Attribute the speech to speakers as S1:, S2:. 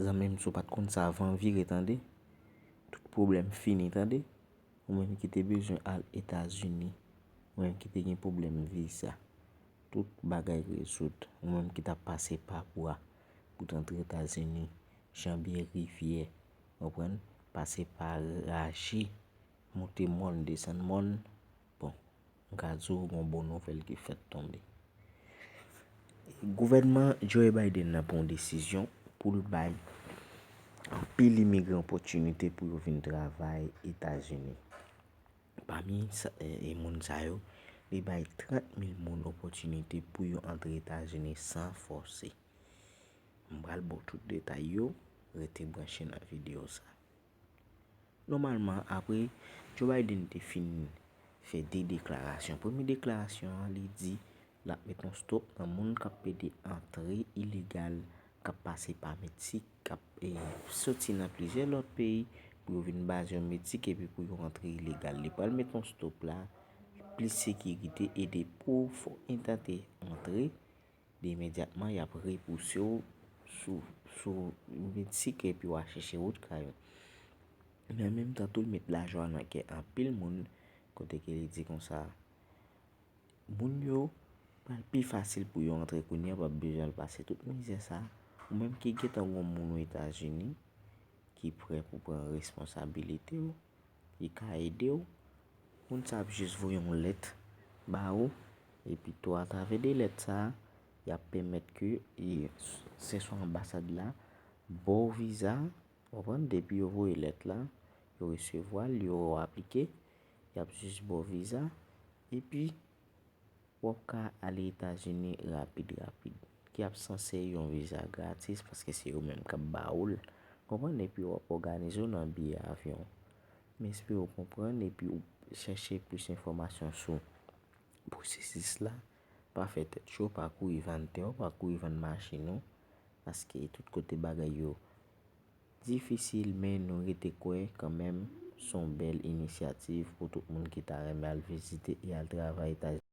S1: Zanmim si w pat konn sa van vire tande tout pwoblèm fini tande ou menm ki te bezwen al etazini ou menm ki te gen pwoblèm viza tout bagay rezoud ou menm ki tap pase pa bwa pou t antre etazini janbe rivyè ou konprann pase pa raje monte mòn desann mòn bon. M ka di w gon bon nouvèl ki fèt tonbe. Gouvènman Joe Biden nan pran yon desizyon pou l bay anpil imigran opòtinite pou yo vin travay Etazini. Pami moun sa yo, li bay 30 mil moun opòtinite pou yo antre Etazini san fòse. M pral ba w tout detay yo, rete branche nan videyo sa. Nòmalman apre Joe Biden te fin fè 2 deklarasyon. Premye deklarasyon an li di lap met yon stop nan moun kap pede antre ilegal kap pase pa Meksik kap soti nan plizyè lòt peyi pou yo vin baze yo Meksik epi pou yo antre ilegal. Li pral met yon stop la, plis sekirite e de pou fòk entante antre. Byen imedyatman y ap repouse w sou sou ou vin sikre epi w a chèche wout kay ou. Men an menm tan tou l met lajwa nan kè anpil moun kote ke li di konsa, Moun yo pral pi fasil pou yo antre kounye a pa p bezwen al pase tout mizè sa a. Ou menm ki gentan gon moun Etazini ki prè pou pran responsabilite ou. li ka ede w. Moun sa ap jis voye yon lèt ba ou epi tou atravè de lèt sa a, y ap pèmèt ke se swa anbasad la ba w viza, ou konprann, depi yo voye lèt la, yo resevwa l, yo aplike, y ap jis ba w viza epi Wap ka ale etazini rapid rapid. Ki ap sanse yon viza gratis paske se yo menm kap ba oul konprann epi wap oganize w nan biye avyon. M espere w konprann epi ou chèche plis enfòmasyon sou pwosesis la pa fè tèt cho pa kouri vann tè w pa kouri vann machin ou paske tout kote bagay yo difisil men nou rete kwè kanmenm son bèl inisyativ pou tout moun ki ta renmen al vizite e al travay etazini.